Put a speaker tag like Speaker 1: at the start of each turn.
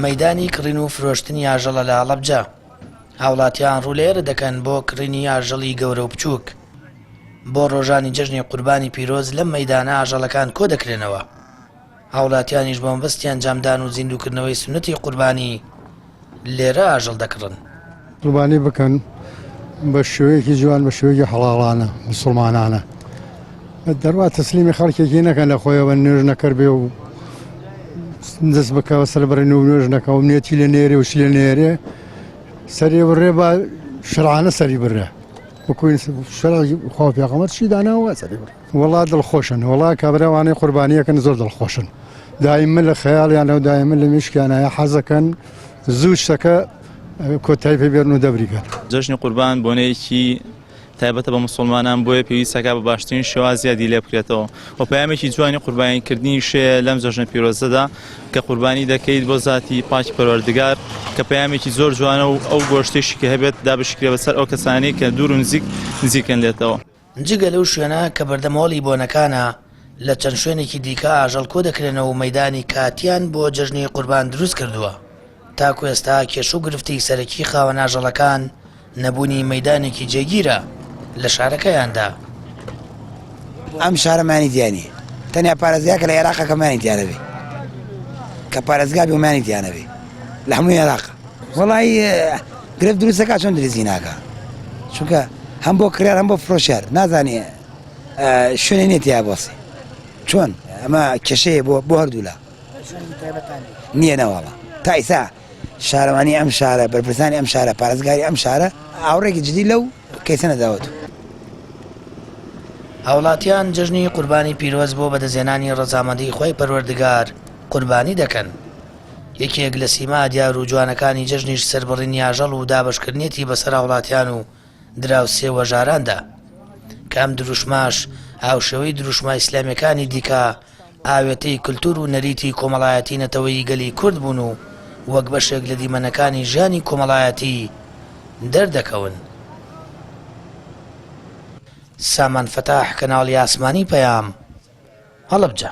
Speaker 1: مەدانی کڕین و فرۆشتنی ئاژەڵە لە هەڵەبجە هاوڵاتیان ڕولێرە دەکەن بۆ کڕینی ئاژەڵی گەورە و بچووک بۆ ڕۆژانی جژنی قوربانی پیرۆز لەم مەدانە ئاژەڵەکان کۆ دەکرێنەوە هاوڵاتیانیش بۆمبستیان جامدان و زیندوکردنەوەی سنتی قوربانی لێرە ئاژەڵ دەکڕن. قوربانی
Speaker 2: بکەن بە شێوەیەکی جوان بە شێوەیەکی حەڵاڵانە مسوڵمانانە دەروا تەسلیمی خەڵکێکی نەکەن لە خۆیەوە نوێژ نەکرد بێ و دەست بکەوە سەر بڕێن و نوێژ نەکەەوە نێتی لە نێرێ و لە نێرێ سەری بڕێ بە شرانە سەری بڕە وەکوین شرا خۆ پێغەمەر چی داناوە سەری بڕە وەڵا دڵخۆشن وەڵا کابرا ئەوانەی قوربانیەکەن زۆر دڵخۆشن دایمە لە خەیاڵیانە و دایمە لە مشکیانە حەزەکەن زوو شتەکە کۆتای پێ بێرن و دەبریگەن جەژنی قوربان
Speaker 3: بۆنەیەکی تایبەتە بە مسلمانان بۆیە پێویستەکە بە باشترین شێوازیا دی لێ بکرێتەوە و پامێکی جوانی قوربانیکردنی شەیە لەم جەژنە پیرۆزەدا کە قوربانی دەکەیت بۆ زاتی پاکی پەروەردگار کە پامێکی زۆر جوانە و ئەو گۆشتێکی کە هەبێت دابشکرێ بەسەر ئەو کەسانی کە دوور و نزیک نزیکن لێتەوە جگە لەو شوێنە
Speaker 1: کە بەردەم هۆڵی بۆنەکانە، لە چەند شوێنێکی دیکە ئاژەڵ کۆدەکرێنەوە و مەیدانی کاتییان بۆ جەژنی قوربان دروستکردووە. تاکو ئێستا کێشە و گرفتی سەرەکی خاوەن ئاژەڵەکان نەبوونی مەیدانێکی جێگیرە لە شارەکەیاندا.
Speaker 4: ئەم شارە مانی تیا نییە، تەنیا پارێزگاکە لە ئێراقە کە مانی تیا نەبێت، کە پارێزگا بێ و مانی تیا نەبێت لە هەموو ئێراقە. وەڵایی. گرفت دروست دەکات چۆن درزی ناکا چونکە هەم بۆ کرار هەم بۆ فرۆشار نازانێ شوێنێ نیە تیا بۆسی چۆن ئەمە کێشەیە بۆ بۆ هەردوولا نییە نەواڵە تا ئیسا شارەوانی ئەم شارە بەرپرسانی ئەم شارە پارێزگاری ئەم شارە ئاوڕێکی جدی لەو کەیسە نەداوت
Speaker 1: هاوڵاتیان جژنی قوربانی پیرۆز بۆ بەدەزێنانی ڕزامەندی خۆی پەروەردگار قوربانی دەکەن. یەکێک لە سیما دیار و جوانەکانی جەژنیش سەربڕینی ئاژەڵ و دابەشکردنیەتی بەسەر هاوڵاتیان و دراوسێ وەژاراندا کە ئەم دروشماش هاوشێوەی دروشمە ئیسلامیەکانی دیکە ئاوێتەی کللتور و نەریتی کۆمەڵایەتی نەتەوەی گەلی کورد بوون و وەک بەشێک لە دیمەنەکانی ژیانی کۆمەڵایەتی دەردەکەون. سامان فتاح کەناڵی ئاسمانی پەیام هەڵەبجە.